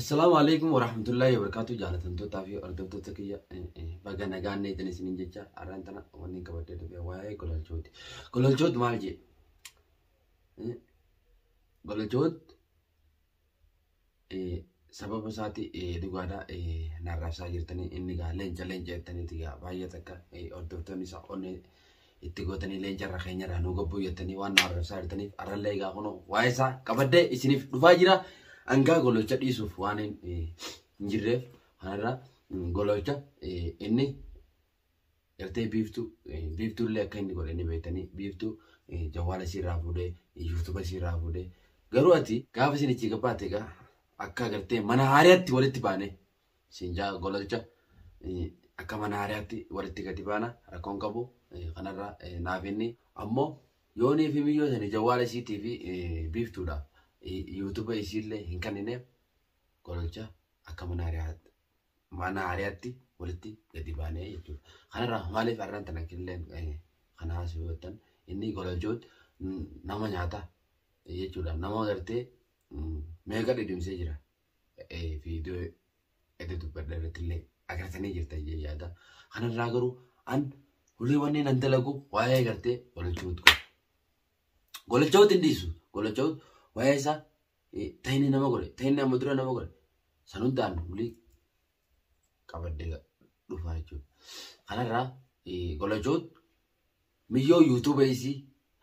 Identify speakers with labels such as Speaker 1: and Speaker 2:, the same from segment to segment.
Speaker 1: Assalaamu alaikum warahmatullahi wabarakatuh jaalatamtootaa fi hordoftoota kiyya baga nagaan neetan isinin jecha har'aan tana wanni qabadhee dhufe waa'ee gololchooti. Gololchoot maal jee? Gololchoot sababa isaati dhugaadhaa narraabsaa jirtanii inni gaa leenca leenca jettaniiti gaa baay'ee takka hordoftoonni isaa onnee itti gootanii leenca irra keenya irraa nu gabbuu jettanii waan nu arrabsaa jirtaniif arrallee egaa kun waa'ee isaa qabadde isiniif dhufaa jira hangaa gololcha dhiisuuf waan hin eh, hin jirreef kanarra mm, gololcha eh, inni ertee biiftuu eh, biiftuu illee akka inni godhe ni beektanii biiftuu eh, jawwaala isiirraa fuudhee yuutuuba isiirraa fuudhee garuu ati gaafa isin itti gabbaate egaa akka agartee mana haariyaatti walitti baanee Siinjaa golalcha akka mana hariyaatti walitti gadi baana rakkoon qabu kanarra naaf inni ammoo yoonii fi miyyoo sani jawwaala isiitii fi biiftuudha yuutuba isiillee hin kannineef golalcha akka mana hariyaatti mana hariyaatti walitti gadi baanee jechuudha. Kanarra maaliif arraan tana killeen kana haasuu yoo ta'an inni golalchoot nama nyaata jechuudha nama gartee meeqa dhidhimsee jira. viidiyoo edda dubbadha irratti illee agartanii jirtan jee yaada. Kanarraa garuu an hulii wanni nan dalagu waa'ee gartee golachawuut godha. Golachawuut hin dhiisu. Golachawuut waa'ee isaa ta'inni nama godhe ta'inni amma dura nama godhe san hundaan hulii qabaddee dhufaa jechuudha. Kanarraa golachawuut miyyoo yuutuuba isii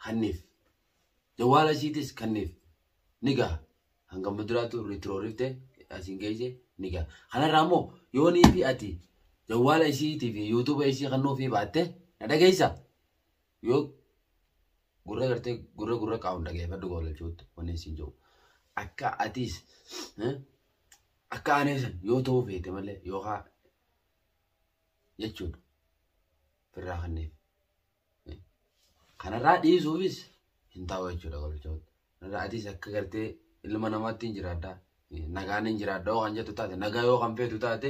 Speaker 1: hanniif jawwaala isiitis kanniif ni gaha. Hanga muduraatu ritroorifte asiin geesse ni gaha. Kanarraa immoo yoo nii fi ati jawwaala isiitii fi yuutuuba isii kan nuufii baatte na dhageessa. Yoo gurra gartee gurra gurra qaawun dhageeffadhu goolalchuutti wanni isin jiru. Akka atiis eh, akka aneesan yoo ta'uu feete malee yookaan jechuudha. Firraa kanneef. Kanarraa dhiisuufis hin ta'u jechuudha golchoota. Kanarraa atis akka gartee ilma namaatti hin jiraadha. Nagaan hin jiraadha yoo kan jettu taate nagaa yoo kan feetu taate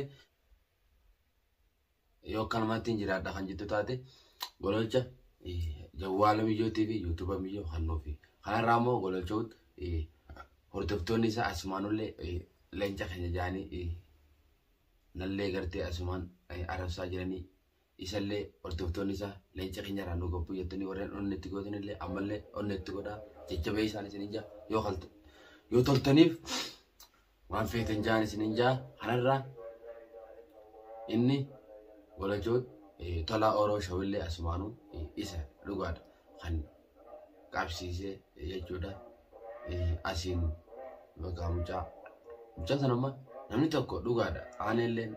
Speaker 1: yoo akka namaatti hin jiraadha kan jettu taate gololcha jawwaala miyyootii fi yuutuuba miyyoo kan nuufi. Kanarraa immoo gololchoot hordoftoonni isaa asumaanullee leenca keenya jaanii nallee gartee asumaan arabsaa jiranii Isallee hordoftoonni isaa leenca keenya irraa nu gabbuu jettanii warreen onnee itti gootan illee ammallee onnee itti godhaa jajjabee isaan isin hin jaa yoo kalta yoo toltaniif waan feetan jaan isin hin jaa kanarraa inni walajoo eh, tolaa oroo shawillee asumaanuu eh, isa dhugaadha kan qabsiisee jechuudha. Asiin bakka mucaa mucaa sana amma namni tokko dhugaadha aaneelleen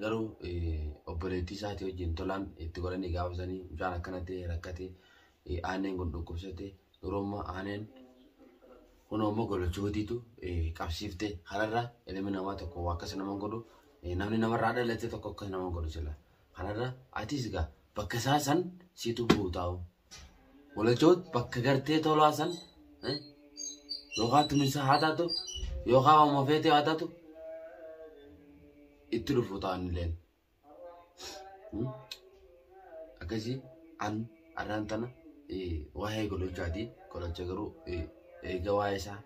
Speaker 1: garuu obboleettii isaatii wajjin tolaan itti godhanii gaafa sanii mucaan akkana ta'e rakkate aaneen kun dhukkubsate dhurumma aaneen kun ammoo golochootiitu qabsiifte kanarra ilmi namaa tokko waa akkas nama godhu namni namarraa dhalate tokko akkas nama godhu sila Kanarra atis gaa bakka isaa san situ buutaa'u. Walachoot bakka gartee tolaa san eh, yookaan tuminsaa haa taatu yookaan hooma feetee haa taatu itti dhufu ta'an illeen. Hmm? Akkasii an arraan tana eh, waa'ee godhachaati. Godhacha garuu eh, eega waa'ee isaa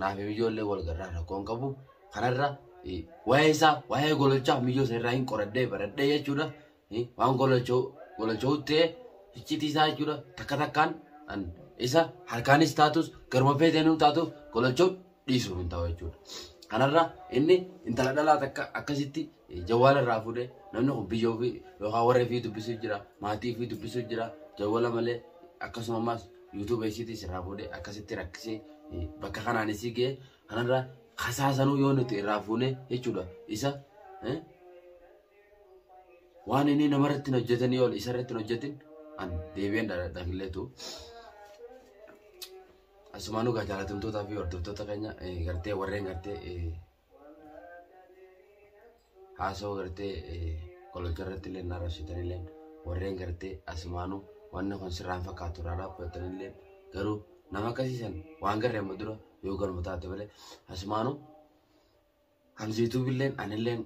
Speaker 1: Naaf miyyoo illee wal garraa rakkoo hin qabu. Kanarra waa'ee isaa waa'ee gololchaa miyyoo isa irraa hin qoradhee baradhee jechuudha. Waan gololchoo gololchoo ta'ee iccitii isaa jechuudha. Takka takkaan isa harkaanis taatus garuma feeteenuu taatuuf gololchoo dhiisuuf hin ta'u jechuudha. Kanarra inni intala dhalaa takka akkasitti Jawwala irraa fuudhee namni kun biyya ofii yookaan warra ofii dubbisuu jira maatii ofii dubbisuu jira jawwala malee akkasuma ammas yuutuuba isiitis irraa fuudhee akkasitti rakkisee bakka kanaan isii ga'ee kanarraa kasaasanuu yoo nuti irraa fuunee jechuudha isa waan inni namarratti hojjetanii ol isarratti hojjetin an deebi'een dhaqilleetu. Asumaanuu gaa jaalatamtootaa fi hordoftoota keenya gartee warreen gartee haasoo gartee qolacha irratti illee na arrabsitan illee warreen gartee asumaanu wanni kun sirraan fakkaatu irraa dhaabbatan illee garuu nama akkasiisan waan garree amma dura yoo galma taate malee asumaanu hamziituu billeen anilleen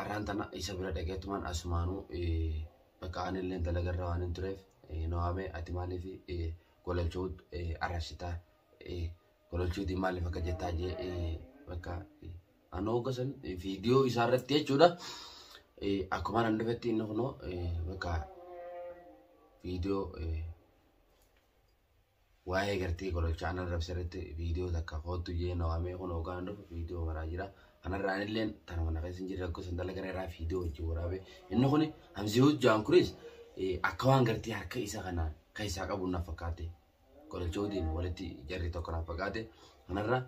Speaker 1: arraan tana isa bira dhageetumaan asumaanu bakka anilleen dalagarra waan hin tureef nawaamee ati maaliif golachuu arrabsitaa Tolchuutiin maaliif akka jettaa jee bakka anoo gosan viidiyoo isaa irratti jechuudha. Akkuma nan dhufetti inni kunoo bakka viidiyoo waa'ee gartee kololchaa anan rabse irratti viidiyoo takka koottu jee na waamee kun hoogaan dhufu viidiyoo maraa jira. Kanarraan illee tana mana keessa hin jirre rakkoo san dalagan irraa viidiyoo wajjin waraabee inni kun hamzii hojjaan kunis akka waan gartee harka isa kana keessaa qabu na fakkaate Gololchootiin walitti jarri tokko na fagaate. Kanarra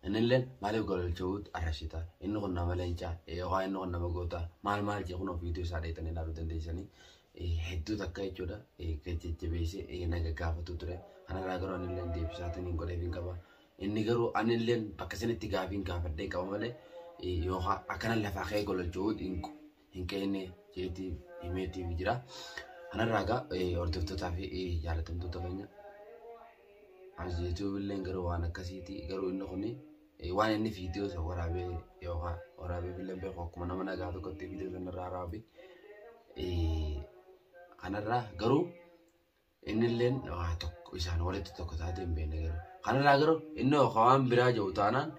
Speaker 1: innillee maaliif gololchoot arrashita? Inni kun nama leencaa yookaan inni kun nama goota maal maal jee kun ofiitu isaa dheetanii ilaaluu dandeessanii hedduu takka jechuudha jajjabeessee na gaggaafatu ture. Kanarraa garuu innillee deebisaatiin hin godheef hin qaba. Inni garuu anillee bakka sanitti gaafiin gaafadhee qaba malee yookaan akkana lafaa ka'ee gololchoot hin ka'inne jeetti himeetti jira. Kanarraa egaa hordoftootaa fi jaalatamtoota keenya as YouTube illee garuu waan akkasiiti garuu inni kun waan inni viidiyoo isa waraabee yookaan waraabee illee beeku akkuma nama nagaa tokkotti viidiyoo sanarraa raawwate kanarraa garuu Innilleen waa tokko isaan walitti tokko taatee hin beekne garuu. Kanarraa garuu inni hooka waan biraa jiru taanaan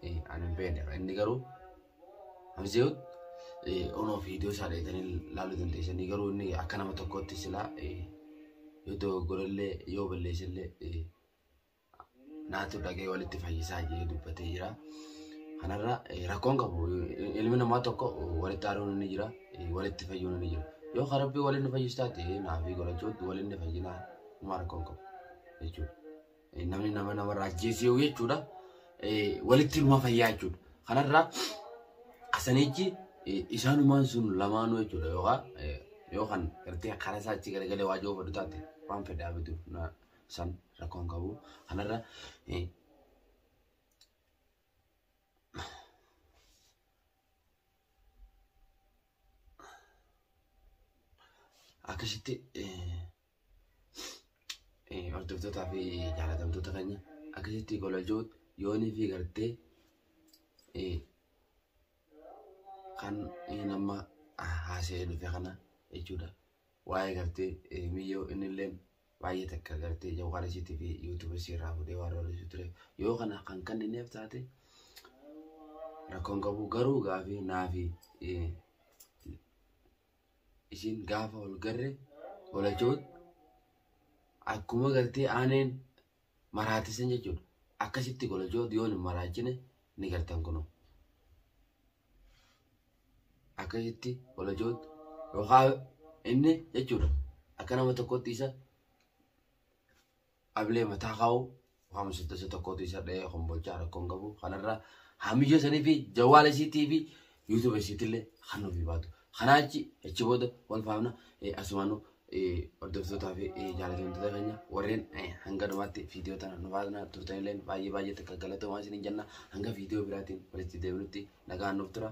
Speaker 1: ani hin beekne. Inni garuu Hamzeewut onoo fi iddoo isaa dheetanii laaluu dandeessanii garuu inni akka nama tokkootti silaa yoo dogoggorellee yoo balleessellee naatu dhagee walitti fayyisaa jedhee dubbatee jira. Kanarra rakkoon qabu ilmi namaa tokko walitti aaruun ni jira walitti fayyuun ni jira. Yoo kan rabbii waliin fayyis taate naafii godhachuutti waliin ni fayyinaa homaa rakkoon qabu jechuudha. Namni nama namarraa ajjeesee yoo jechuudha walitti ilma fayyaa jechuudha. Kanarra asanichi isaanumaan sun lamaanuu jechuudha yookaan yoo kan gartee karaa isaa achi garagalee waajoo fudhu taate waan fedhaa bitu san rakkoon qabu kanarra eh, akkasitti eh, eh, hordoftootaa fi jaalatamtoota keenya akkasitti gololchuu yoonii fi gartee eh, kan inni amma haasa'ee dhufe kana jechuudha. waa'ee gartee eh, miyyoo innilleen baay'ee takka gartee jawwaara isiitii fi yuutuuba isii irraa fuudhee waan roorrisu ture yoo kana kan kannineef taate rakkoon qabu garuu gaafii naafi eh, isiin gaafa wal garre walachoot akkuma gartee aaneen maraatisan jechuudha akkasitti golachoot yoon hin maraachine ni gartan kunoo akkasitti olajoot yookaan inni jechuudha akka nama tokkotti isa ablee mataa kaa'u waan misilta isa tokkotti isa dha'ee kombolchaa rakkoon qabu kanarra haamiyya sanii fi jawaala isiitii fi yuutuuba isiitillee kan nuuf baatu kanaachi achi booda wal faamna asumaanuu Hordoftootaa fi jaalatamtoota keenya warreen hanga dhumaatti viidiyoo tana nu faana turtanillee baay'ee baay'ee takka galatoomaa isiniin jenna hanga viidiyoo biraatiin walitti deebinutti nagaan nuuf tura.